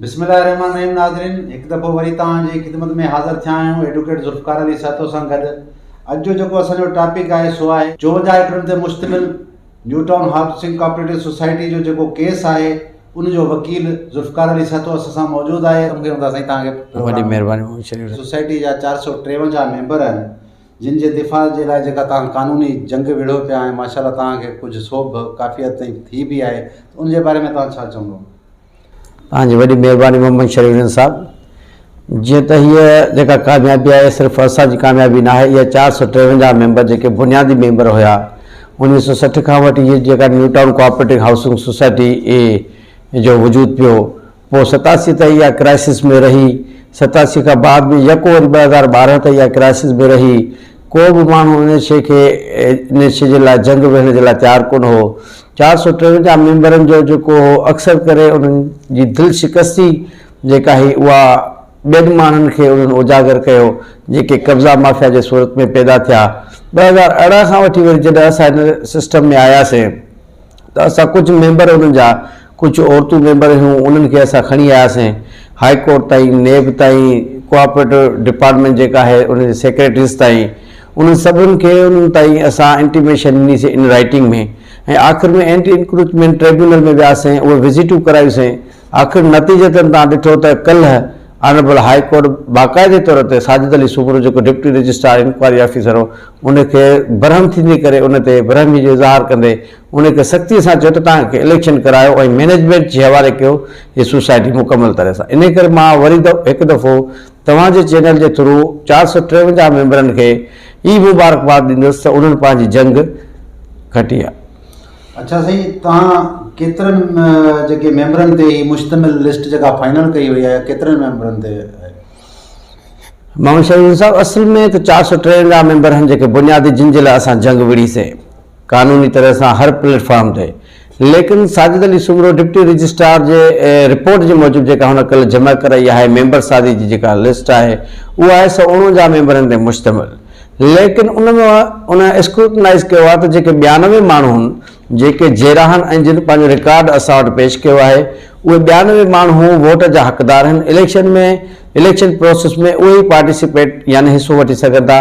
بسم الله الرحمن الرحيم ناظرين هڪ دفعو وري توهان جي خدمت ۾ حاضر ٿيا آهيون ايڊوڪيٽ ذوالفقار علي سهتو سان گڏ اڄ جو جيڪو اسان جو ٽاپڪ آهي سو آهي چونجا ايڪڙن تي مشتمل new town housing cooperative society جو جيڪو ڪيس آهي ان جو وڪيل ذوالفقار علي سهتو اسان سان موجود آهي سوسائٽي جا چار سؤ ٽيونجا ميمبر آهن جن جي دفاع جي لاء جيڪا توهان قانوني جنگ وڙهيو پيا ۽ ماشاء الله توهان کي ڪجهه سوڀ ڪافي حد تائين ٿي به آهي ته ان جي باري ۾ توهان ڇا چوندو؟ توهان جي وڏي مهرباني محمد شريف ڏينه صاحب. جيئن ته هيء جيڪا ڪاميابي آهي صرف اسان جي ڪاميابي ناهي اها چار سؤ ٽيونجاهه ميمبر جيڪي بنيادي ميمبر هيا انيس سؤ سٺ کان وٺي هيء جيڪا new town cooperating housing society اي جو وجود پيو پوء ستاسي تائين اها ڪرائسس ۾ رهي، ستاسي کان بعد ۾ يڪو وري ٻه هزار ٻارهن تائين اها ڪرائسس ۾ رهي. ڪو به ماڻهو ان شيء کي ان شيء جي لاء جنگ ويهڻ جي لاء تيار ڪونه هو. چار سؤ ٽيونجاهه ميمبرن جو جيڪو هو اڪثر ڪري انهن جي دل شڪستي جيڪا هئي اها ٻين ماڻهن کي انهن اجاگر ڪيو جيڪي قبضا مافيا جي صورت ۾ پيدا ٿيا. ٻه هزار ارڙهن کان وٺي وري جڏهن اسان هن سسٽم ۾ آياسين. ته اسان ڪجهه ميمبر انهن جا ڪجهه عورتون ميمبر هيون انهن کي اسان کڻي آياسين هاء ڪورٽ تائين، نيب تائين، ڪوآپريٽو ڊپارٽمينٽ جيڪا آهي انهن جي سيڪريٽريز تائين انهن سڀن کي انهن تائين اسان انٽيميشن ڏنيسين ان رائيٽنگ ۾ ۽ آخر ۾ اينٽي انڪروچمينٽ ٽريبيونل ۾ وياسين اهي وزٽون ڪرايوسين. آخر نتيجتاً توهان ڏٺو ته ڪلهه آنريبل هاء ڪورٽ باقاعدي طور تي ساجد علي سومرو جيڪو ڊپٽي رجسٽرار انڪوائري آفيسر هو ان کي برهم ٿيندي ڪري ان تي برهمي جو اظهار ڪندي ان کي سختي سان چيو ته توهان کي اليڪشن ڪرايو ۽ مينيجمينٽ جي حوالي ڪيو هي سوسائٽي مڪمل طرح سان انهي ڪري مان وري هڪ دفعو توهان جي چينل جي ٿرو چار سؤ ٽيونجاهه ميمبرن کي ئي مبارڪباد ڏيندس ته انهن پنهنجي جنگ کٽي آهي. اڇا سائين توهان ڪيترن جيڪي ميمبرن تي هي مشتمل لسٽ جيڪا فائنل ڪئي وئي آهي ڪيترن ميمبرن تي محمد شهيد صاحب اصل ۾ ته چار سو ٽيونجاهه ميمبر آهن جيڪي بنيادي جن جي لاء اسان جنگ وڙهي سي قانوني طرح سان هر پليٽ فارم تي ليڪن ساجد علي سومرو ڊپٽي رجسٽرار جي رپورٽ جي موجب جيڪا هن ڪل جمع ڪرائي آهي ميمبر سازي جي جيڪا لسٽ آهي اها آهي سو اڻونجاهه ميمبرن تي مشتمل ليڪن ان ۾ ان اسڪروٽنائيز ڪيو آهي ته جيڪي ٻيانوي ماڻهو هن جيڪي جيراهن ۽ جن پنهنجو رڪارڊ اسان وٽ پيش ڪيو آهي اهي ٻيانوي ماڻهو ووٽ جا حقدار هن اليڪشن ۾ اليڪشن پروسيس ۾ اهي ئي پارٽيسپيٽ يعني حصو وٺي سگهن ٿا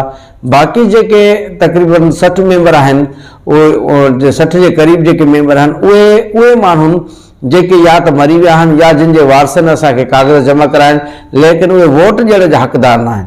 باقي جيڪي تقريباً سٺ ميمبر آهن اهي سٺ جي قريب جيڪي ميمبر آهن اهي اهي ماڻهو جيڪي يا ته مري ويا آهن يا جن جي وارثن اسان کي ڪاغذ جمع ڪرايا آهن ليڪن اهي ووٽ ڏيڻ جا حقدار ناهن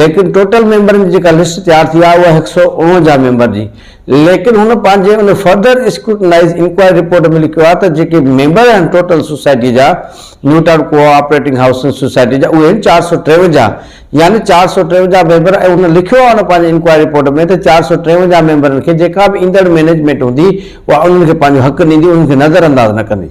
ليڪن ٽوٽل ميمبرن جي جيڪا لسٽ تيار ٿي آهي اها هڪ سؤ اڻونجاهه ميمبر جي ليڪن هن پنهنجي ان فردر اسڪروٽنائيز انڪوائري رپورٽ ۾ لکيو آهي ته جيڪي ميمبر آهن ٽوٽل سوسائٽي جا new town cooperating housing society جا اهي آهن چار سؤ ٽيونجاهه يعني چار سؤ ٽيونجاهه ميمبر ۽ هن لکيو آهي ان پنهنجي انڪوائري رپورٽ ۾ ته چار سؤ ٽيونجاهه ميمبرن کي جيڪا به ايندڙ مينيجمينٽ هوندي اها انهن کي پنهنجو حق ڏيندي انهن کي نظر انداز نه ڪندي.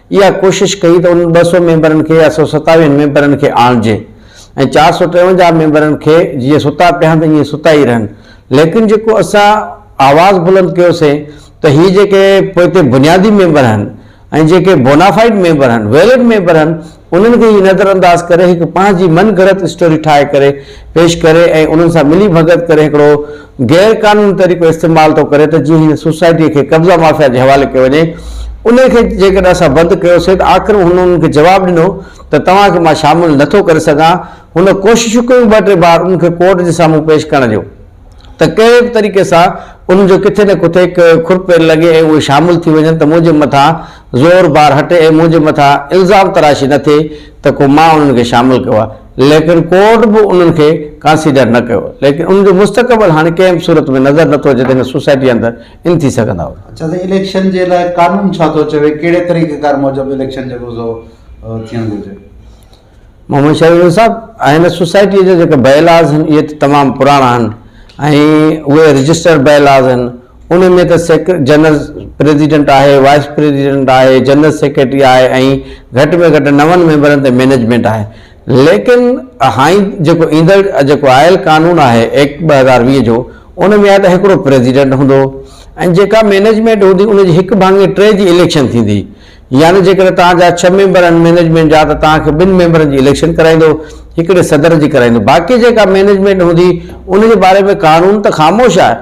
اها ڪوشش ڪئي ته انهن ٻه سؤ ميمبرن کي يا سؤ ستاويهن ميمبرن کي آڻجي ۽ چار سؤ ٽيونجاهه ميمبرن کي جيئن ستا پيا آهن ته ائين ستا ئي رهن ليڪن جيڪو اسان آواز بلند ڪيوسين ته هي جيڪي پوئتي بنيادي ميمبر آهن ۽ جيڪي بونافائيڊ ميمبر آهن ويلڊ ميمبر آهن انهن کي هي نظر انداز ڪري هڪ پنهنجي من گهڙت اسٽوري ٺاهي ڪري پيش ڪري ۽ انهن سان ملي ڀڳت ڪري هڪڙو غير قانوني طريقو استعمال ٿو ڪري ته جيئن هن سوسائٽيء کي قبضا مافيا جي حوالي ڪيو وڃي. انهيء کي جيڪڏهن اسان بند ڪيوسين ته آخر هن انهن کي جواب ڏنو ته توهان کي مان شامل نه ٿو ڪري سگهان. هن ڪوششون ڪيون ٻه ٽي بار انهن کي ڪورٽ جي سامهون پيش ڪرڻ جون ته ڪهڙي به طريقي سان انهن جو ڪٿي نه ڪٿي کر پير لڳي ۽ اهي شامل ٿي وڃن ته منهنجي مٿان زور بار هٽي ۽ منهنجي مٿان الزام تراشي نه ٿئي ته ڪو مان انهن کي شامل ڪيو آهي. ليڪن ڪورٽ به انهن کي ڪانسيڊر نه ڪيو، ليڪن انهن جو مستقبل هاڻي ڪنهن به صورت ۾ نظر نه ٿو اچي ته هن سوسائٽيء اندر ان ٿي سگهندا هئا. اڇا سائين اليڪشن جي لاء قانون ڇا ٿو چوي ڪهڙي طريقه ڪار موجب اليڪشن جيڪو سو ٿيڻ گهرجي. محمد شاهيوڙو صاحب هن سوسائٽيء جا جيڪا بائي لاز آهن اهي ته تمام پراڻا آهن ۽ اهي رجسٽرڊ بائي لاز آهن. ان ۾ ته سيڪريٽري جنرل پريزيڊنٽ آهي، وائيس پريزيڊنٽ آهي، جنرل سيڪريٽري آهي ۽ گهٽ ۾ گهٽ نون ميمبرن تي مئنيجمينٽ آهي. ليڪن هائين جيڪو ايندڙ جيڪو آيل قانون آهي ايڪٽ ٻه هزار ويهه جو ان ۾ آهي ته هڪڙو پريزيڊنٽ هوندو ۽ جيڪا مئنيجمينٽ هوندي ان جي هڪ ڀاڱي ٽي جي اليڪشن ٿيندي. يعني جيڪڏهن توهان جا ڇهه ميمبر آهن مئنيجمينٽ جا ته توهان کي ٻن ميمبرن جي اليڪشن ڪرائيندو، هڪڙي صدر جي ڪرائيندو. باقي جيڪا مئنيجمينٽ هوندي ان جي باري ۾ قانون ته خاموش آهي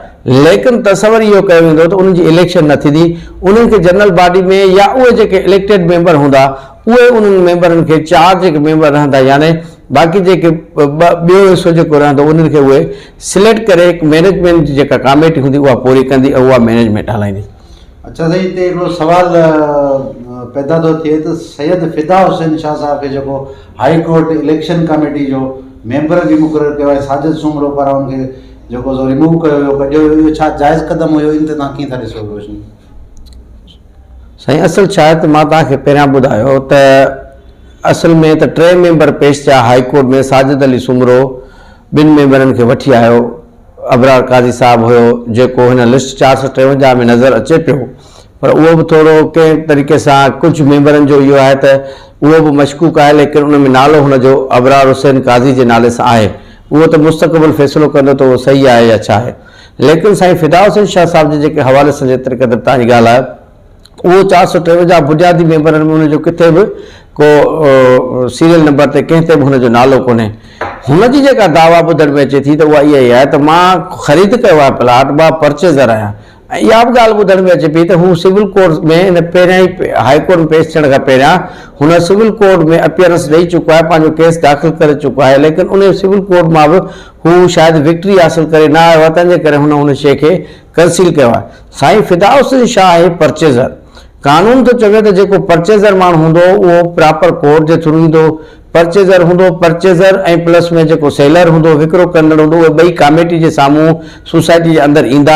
ليڪن تصور اهو ڪيو ويندو ته انهن جي اليڪشن نه ٿيندي، انهن کي جنرل باڊي ۾ يا اهي جيڪي اليڪٽيڊ ميمبر هوندا اهي انهن ميمبرن کي چار جيڪي ميمبر رهندا يعني باقي جيڪي ٻه ٻيو حصو جيڪو رهندو انهن کي اهي سليڪٽ ڪري هڪ مئنيجمينٽ جي جيڪا ڪاميٽي هوندي اها پوري ڪندي ۽ اها مئنيجمينٽ هلائيندي. اچا سائين هتي هڪڙو سوال پيدا ٿو ٿئي ته سيد فدا حسين شاهه صاحب کي جيڪو هائي ڪورٽ اليڪشن ڪاميٽي جو ميمبر به مقرر ڪيو آهي ساجد سومرو پاران ان کي جيڪو سو ريموو ڪيو ويو ڪڍيو ويو اهو ڇا جائز قدم هيو ان تي تان ڪيئن ٿا ڏسو روشني سائين اصل ڇا آهي ته مان تان کي پهريان ٻڌايو ته اصل ۾ ته ٽي ميمبر پيش ٿيا هائي ڪورٽ ۾ ساجد علي سومرو ٻن ميمبرن کي وٺي آيو ابرار قاضي صاحب هيو جيڪو هن لسٽ چار سؤ ٽيونجاهه ۾ نظر اچي پيو پر اهو به ٿورو ڪنهن طريقي سان ڪجهه ميمبرن جو اهو آهي ته اهو به مشڪوڪ آهي ليڪن ان ۾ نالو هن جو ابرار حسين قاضي جي نالي سان آهي اهو ته مستقبل فيصلو ڪندو ته اهو صحيح آهي يا ڇا آهي ليڪن سائين فدا حسين شاهه صاحب جي جيڪي حوالي سان جيتري قدر توهان جي ڳالهه اهو چار سؤ ٽيونجاهه بنيادي ميمبرن ۾ هن جو ڪٿي به ڪو سيريل نمبر تي ڪنهن تي به هن جو نالو ڪونهي. هن جي جيڪا دعويٰ ٻڌڻ ۾ اچي ٿي ته اها اها ئي آهي ته مان خريد ڪيو آهي پلاٽ، مان پرچيزر آهيان ۽ اها به ڳالهه ٻڌڻ ۾ اچي پئي ته هو سول ڪورٽ ۾ هن پهريان ئي هائي ڪورٽ ۾ پيش ٿيڻ کان پهريان هن سول ڪورٽ ۾ اپيئرنس ڏئي چڪو آهي، پنهنجو ڪيس داخل ڪري چڪو آهي ليڪن انهي سول ڪورٽ مان به هو شايد وڪٽري حاصل ڪري نه آيو آهي تنهن جي ڪري هن ان شيء کي ڪنسيل ڪيو آهي سائين فدا حسين شاهه آهي پرچيزر قانون ٿو چوي ته جيڪو پرچيزر ماڻهو هوندو اهو پراپر ڪورٽ جي ٿرو ايندو پرچيزر هوندو پرچيزر ۽ پلس ۾ جيڪو سيلر هوندو وڪرو ڪندڙ هوندو اهي ٻئي ڪاميٽي جي سامهون سوسائٽي جي اندر ايندا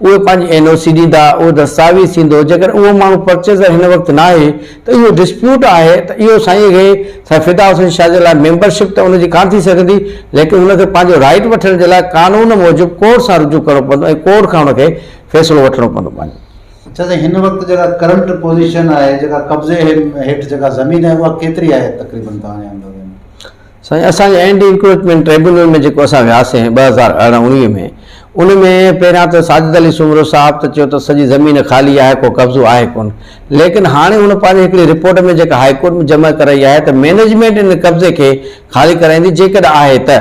اهي پنهنجي اين او سي ڏيندا اهو دستاويز ٿيندو جيڪڏهن اهو ماڻهو پرچيزر هن وقت ناهي ته اهو ڊسپيوٽ آهي ته اهو سائين کي سائين فدا حسين شاهه جي لاء ميمبر شپ ته ان جي ڪانه ٿي سگهندي ليڪن ان کي پنهنجو رائيٽ وٺڻ جي لاء قانون موجب ڪورٽ سان رجوع ڪرڻو پوندو ۽ ڪورٽ کان ان کي فيصلو وٺڻو پوندو پنهنجو. اڇا سائين هن وقت جيڪا ڪرنٽ پوزيشن آهي جيڪا قبضي هيٺ جيڪا زمين آهي اها ڪيتري آهي تقريبن توهان جي اندازي ۾؟ سائين اسان جي اينٽي انڪروچمينٽ ٽريبيونل ۾ جيڪو اسان وياسين ٻه هزار ارڙهن اڻويهه ۾ ان ۾ پهريان ته ساجد علي سومرو صاحب ته چيو ته سڄي زمين خالي آهي ڪو قبضو آهي ڪونه ليڪن هاڻي هن پنهنجي هڪڙي رپورٽ ۾ جيڪا هائي ڪورٽ ۾ جمع ڪرائي آهي ته مينيجمينٽ ان قبضي کي خالي ڪرائيندي جيڪڏهن آهي ته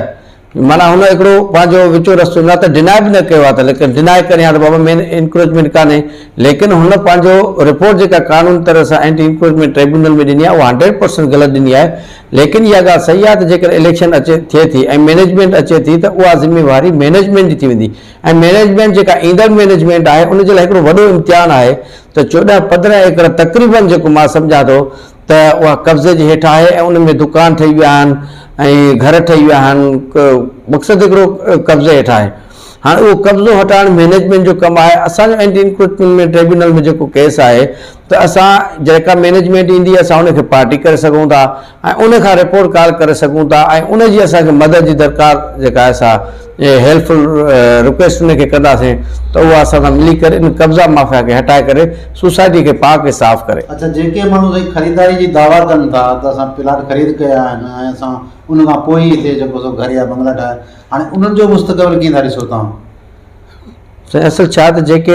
معنيٰ هن هڪڙو پنهنجو وچو رستو نه ته ڊيناء به نه ڪيو آهي ته ليڪن ڊيناء ڪريان ته بابا مين انڪروچمينٽ ڪانهي ليڪن هن پنهنجو رپورٽ جيڪا قانون طرح سان اينٽي انڪروچمينٽ ٽريبيونل ۾ ڏني آهي اها هنڊريڊ پرسنٽ غلط ڏني آهي ليڪن اها ڳالهه صحيح آهي ته جيڪڏهن اليڪشن اچي ٿئي ٿي ۽ مئنيجمينٽ اچي ٿي ته اها ذميواري مئنيجمينٽ جي ٿي ويندي ۽ مئنيجمينٽ جيڪا ايندڙ مئنيجمينٽ آهي ان جي لاء هڪڙو وڏو امتحان آهي ته چوڏهن پندرهن ايڪڙ تقريبن جيڪو مان سمجهان ٿو ته اها قبضي جي هيٺ آهي ۽ ان ۾ دڪان ٺهي ويا آهن ۽ گهر ٺهي ويا آهن مقصد هڪڙو قبضي هيٺ آهي. هاڻ اهو قبضو هٽائڻ مئنيجمينٽ جو ڪم آهي، اسان جو اينٽي انڪروچمينٽ ۾ ٽريبيونل ۾ جيڪو ڪيس آهي ته اسان جيڪا مئنيجمينٽ ايندي اسان ان کي پارٽي ڪري سگهون ٿا ۽ ان کان رپورٽ ڪال ڪري سگهون ٿا ۽ ان جي اسان کي مدد جي درڪار جيڪا آهي سا هيلپفل رڪويسٽ ان کي ڪنداسين ته اها اسان سان ملي ڪري ان قبضا مافيا کي هٽائي ڪري سوسائٽي کي پاڪ ۽ صاف ڪري. اڇا جيڪي ماڻهو سائين خريداري جي دعويٰ ڪن ٿا ته اسان پلاٽ خريد ڪيا آهن ۽ اسان ان کان پوء ئي هتي جيڪو سو گهر يا بنگلا ٺاهيا هاڻي انهن جو مستقبل ڪيئن ٿا ڏسو توهان؟ سائين اصل ڇا ته جيڪي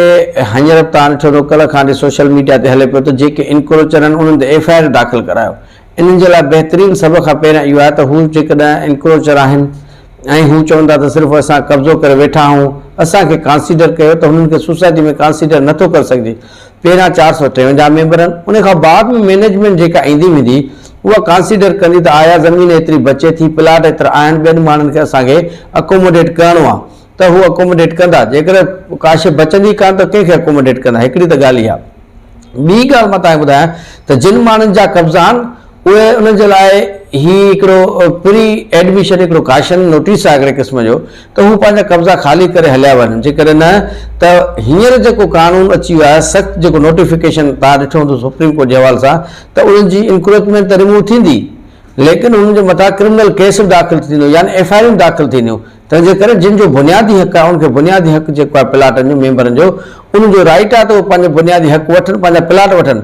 هينئر به توهان ڏٺو اٿو ڪلهه کان ڏي سوشل ميڊيا تي هلي پيو ته جيڪي انڪروچر آهن انهن تي ايف آء آر داخل ڪرايو انهن جي لاء بهترين سڀ کان پهريان اهو آهي ته هو جيڪڏهن انڪروچر آهن ۽ هو چون ٿا ته صرف اسان قبضو ڪري ويٺا آهون اسان کي ڪانسيڊر ڪيو ته هنن کي سوسائٽي ۾ ڪانسيڊر نٿو ڪري سگهجي پهريان چار سؤ ٽيونجاهه ميمبرن ان کان بعد ۾ مئنيجمينٽ جيڪا ايندي ويندي اها ڪانسيڊر ڪندي ته آيا زمين ايتري بچي ٿي پلاٽ ايترا آهن ٻين ماڻهن کي اسان کي اڪوموڊيٽ ڪرڻو آهي ته هو اڪوموڊيٽ ڪندا جيڪڏهن ڪا شيء بچندي ڪانه ته ڪنهن کي اڪوموڊيٽ ڪندا هڪڙي ته ڳالهه اها ٻي ڳالهه مان تان کي ٻڌايان ته جن ماڻهن جا قبضا آهن اهي انهن جي لاء هي هڪڙو پري ايڊميشن هڪڙو ڪاشن نوٽيس آهي هڪڙي قسم جو ته هو پنهنجا قبضا خالي ڪري هليا وڃن جيڪڏهن نه ته هينئر جيڪو قانون اچي ويو آهي سخت جيڪو نوٽيفڪيشن توهان ڏٺو هوندو سپريم ڪورٽ جي حوالي سان ته انهن جي انڪروچمينٽ ته رموو ٿيندي ليڪن انهن جي مٿان ڪرمنل ڪيس به داخل ٿيندو يعني ايف آء آرون داخل ٿينديون تنهن جي ڪري جن جو بنيادي حق آهي ان کي بنيادي حق جيڪو آهي پلاٽن جو ميمبرن جو انهن جو رائيٽ آهي ته اهو پنهنجو بنيادي حق وٺن پنهنجا پلاٽ وٺن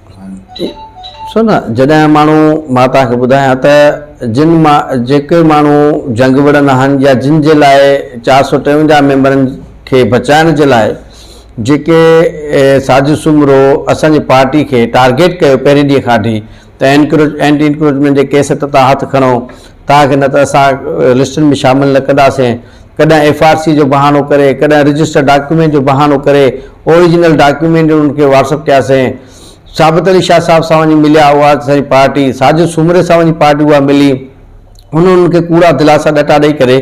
ڏسو نه جڏهن ماڻهو مان توهان کي ٻڌايان ته جن مان جيڪي ماڻهو جنگ وڙهن آهن يا جن جي لاء چار سؤ ٽيونجاهه ميمبرن کي بچائڻ جي لاء جيڪي سازش سومرو اسان جي پارٽي کي ٽارگيٽ ڪيو پهرين ڏينهن کان وٺي ته اينٽي انڪروچمينٽ جي ڪيس تي توهان هٿ کڻو توهان کي نه ته اسان لسٽن ۾ شامل نه ڪنداسين، ڪڏهن ايف آر سي جو بهانو ڪري، ڪڏهن رجسٽر ڊاڪيومينٽ جو بهانو ڪري اوريجنل ڊاڪيومينٽ انهن کي واٽسپ ڪياسين. ثابت علي شاهه صاحب سان وڃي مليا اها اسان جي پارٽي، ساجد سومري سان وڃي پارٽي اها ملي، هن انهن کي ڪوڙا دلاسا ڏٽا ڏئي ڪري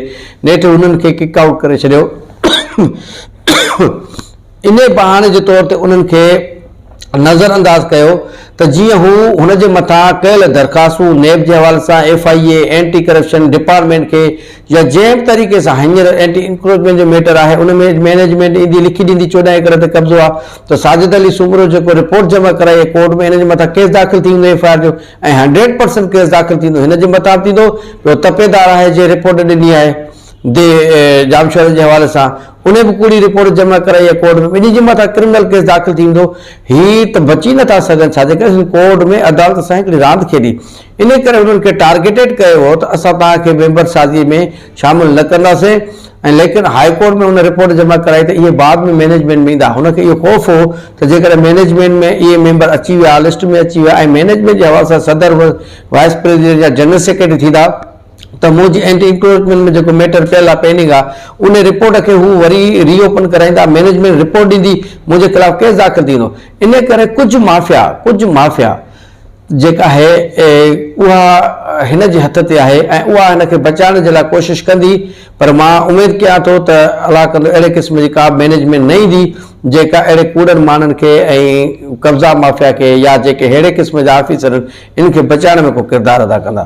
نيٺ انهن کي ڪڪ آئوٽ ڪري ڇڏيو. انهيء بهاني جي طور تي انهن کي نظر انداز ڪيو ته جيئن هو هن جي مٿان ڪيل درخواستون نيب جي حوالي سان F I A, anti corruption department کي يا جنهن به طريقي سان هينئر اينٽي انڪروچمينٽ جو ميٽر آهي ان ۾ مينيجمينٽ ايندي لکي ڏيندي چوڏهن ايڪڙ تي قبضو آهي ته ساجد علي سومرو جيڪو رپورٽ جمع ڪرائي ڪورٽ ۾ ان جي مٿان ڪيس داخل ٿي ويندو ايف آء آر جو ۽ هنڊريڊ پرسنٽ ڪيس داخل ٿيندو هن جي مطابق ٿيندو ٻيو تپيدار آهي جنهن رپورٽ ڏني آهي. دي جام شهرن جي حوالي سان انهي به ڪوڙي رپورٽ جمع ڪرائي آهي ڪورٽ ۾ ٻنهي جي مٿان ڪرمنل ڪيس داخل ٿيندو هي ته بچي نٿا سگهن ڇاجي ڪري سنڌ ڪورٽ ۾ عدالت سان هڪڙي راند کيڏي انهي ڪري هنن کي ٽارگيٽيڊ ڪيو هو ته اسان توهان کي ميمبر سازي ۾ شامل نه ڪنداسين ۽ ليڪن هائي ڪورٽ ۾ هن رپورٽ جمع ڪرائي ته اهي بعد ۾ مينيجمينٽ ۾ ايندا هن کي اهو خوف هو ته جيڪڏهن مينيجمينٽ ۾ اهي ميمبر اچي ويا لسٽ ۾ اچي ويا ۽ مينيجمينٽ جي حوالي سان صدر وائيس پريزيڊنٽ يا جنرل سيڪريٽري ٿيندا ته موجي اينٽي انڪروچمينٽ ۾ جيڪو ميٽر پيل آهي پينڊنگ آهي انهي رپورٽ کي هو وري ري اوپن ڪرائيندا مينيجمينٽ رپورٽ ڏيندي منهنجي خلاف ڪيس داخل ٿي ويندو انهي ڪري ڪجهه مافيا ڪجهه مافيا جيڪا آهي اها هن جي هٿ تي آهي ۽ اها هن کي بچائڻ جي لاء ڪوشش ڪندي پر مان اميد ڪيان ٿو ته الله ڪندو اهڙي قسم جي ڪا به مينيجمينٽ نه ايندي جيڪا اهڙي ڪوڙن ماڻهن کي ۽ قبضا مافيا کي يا جيڪي ههڙي قسم جا آفيسر آهن انهن کي بچائڻ ۾ ڪو ڪردار ادا ڪندا.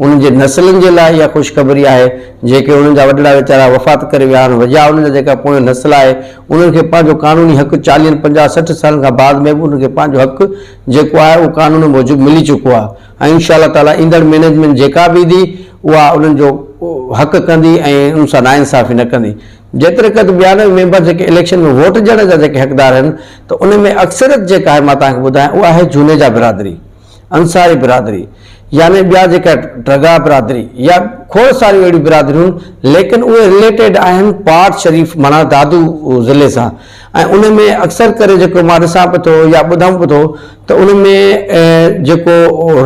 انهن جي نسلن جي لاء اها خوشخبري آهي، جيڪي انهن جا وڏڙا ويچارا وفات ڪري ويا آهن، وجاهه انهن جا جيڪا پوئين نسل آهي، انهن کي پنهنجو قانوني حق چاليهن، پنجاهه، سٺ سالن کان بعد ۾ به انهن کي پنهنجو حق جيڪو آهي اهو قانون موجب ملي چڪو آهي ۽ انشاء الله تعاليٰ ايندڙ مينيجمينٽ جيڪا به ايندي اها انهن جو حق ڪندي ۽ انهن سان ناانصافي نه ڪندي. جيتريقد ٻيانوي ميمبر جيڪي اليڪشن ۾ ووٽ ڏيڻ جا جيڪي حقدار آهن ته ان ۾ اڪثريت جيڪا آهي مان توهان کي ٻڌايان اها آهي جنيجا برادري. انصاري برادري يعني ٻيا جيڪا ڊگها برادري يا کوڙ ساريون اهڙيون برادريون ليڪن اهي رليٽيڊ آهن پاٽ شريف معنيٰ دادو ضلعي سان ۽ ان ۾ اڪثر ڪري جيڪو مان ڏسان به ٿو يا ٻڌان به ٿو ته ان ۾ جيڪو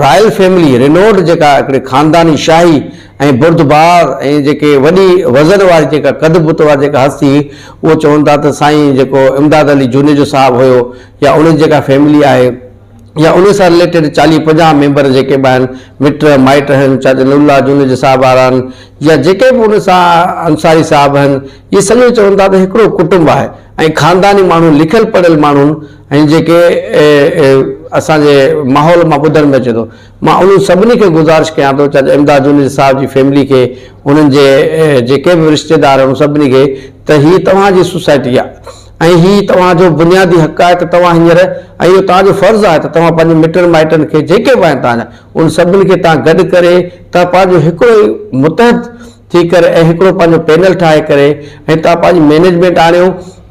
رائل فيملي رينوڊ جيڪا هڪڙي خانداني شاهي ۽ بردبار ۽ جيڪي وڏي وزن واري جيڪا قد بت واري جيڪا هستي هئي اهو چون ٿا ته سائين جيڪو امداد علي جونيجو صاحب هيو يا ان جي جيڪا فيملي آهي يا انهي سان رليٽيڊ چاليهه پنجاهه ميمبر جيڪي به آهن مٽ مائٽ آهن چاچا نور الله جوڻيجو صاحب وارا آهن يا جيڪي به ان سان انصاري صاحب آهن اهي سڄو چون ٿا ته هڪڙو ڪٽنب آهي ۽ خانداني ماڻهو لکيل پڙهيل ماڻهو آهن ۽ جيڪي اسان جي ماحول مان ٻڌڻ ۾ اچي ٿو مان انهن سڀني کي گذارش ڪيان ٿو چاچا امداد جوڻيجو صاحب جي فيملي کي انهن جي جيڪي به رشتيدار آهن سڀني کي ته هي توهان جي سوسائٽي آهي ۽ هي توهان جو بنيادي حق آهي ته توهان هينئر ۽ اهو توهان جو فرض آهي ته توهان پنهنجي مٽن مائٽن کي جيڪي به آهن توهان جا انهن سڀني کي توهان گڏ ڪري توهان پنهنجو هڪڙو ئي متحد ٿي ڪري ۽ هڪڙو پنهنجو پينل ٺاهي ڪري ۽ توهان پنهنجي مئنيجمينٽ آڻيو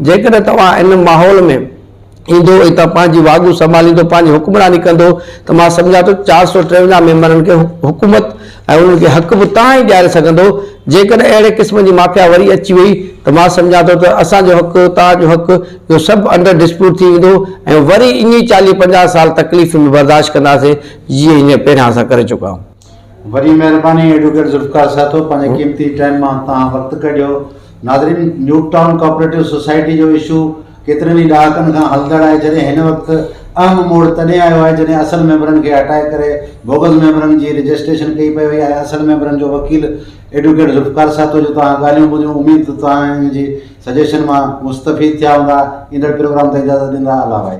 جيڪڏهن توهان ان ماحول ۾ ايندو ۽ توهان پنهنجي واڳون سنڀاليندو پنهنجي حڪمراني ڪندو ته مان سمجهان ٿو چار سؤ ٽيونجاهه ميمبرن کي حڪومت ۽ انهن کي حق به تان ئي ڏياري سگهندو، جيڪڏهن اهڙي قسم جي مافيا وري اچي وئي ته مان سمجهان ٿو ته اسان جو حق، توهان جو حق، اهو سڀ انڊر ڊسپيوٽ ٿي ويندو ۽ وري ائين ئي چاليهه پنجاهه سال تڪليفون به برداشت ڪنداسين، جيئن هينئر پهريان اسان ڪري چڪا آهيون. وڏي مهرباني ايڊووڪيٽ ذوالفقار سهتو پنهنجي قيمتي ٽائيم مان توهان وقت ڪڍيو. ناظرين! نيوٽ ٽائون ڪوآپريٽو سوسائٽي جو اشو ڪيترن ئي ڏهاڪن کان هلندڙ آهي جڏهن هن وقت اهم موڙ تڏهن آيو آهي جڏهن اصل ميمبرن کي هٽائي ڪري بوگس ميمبرن جي رجسٽريشن ڪئي پئي وئي آهي اصل ميمبرن جو وڪيل ايڊوڪيٽ ذوالفقار ساهتو جو توهان ڳالهيون ٻڌيون اميد ته توهان ان جي سجيشن مان مستفيد ٿيا هوندا ايندڙ پروگرام تائين اجازت ڏيندا الله وائي.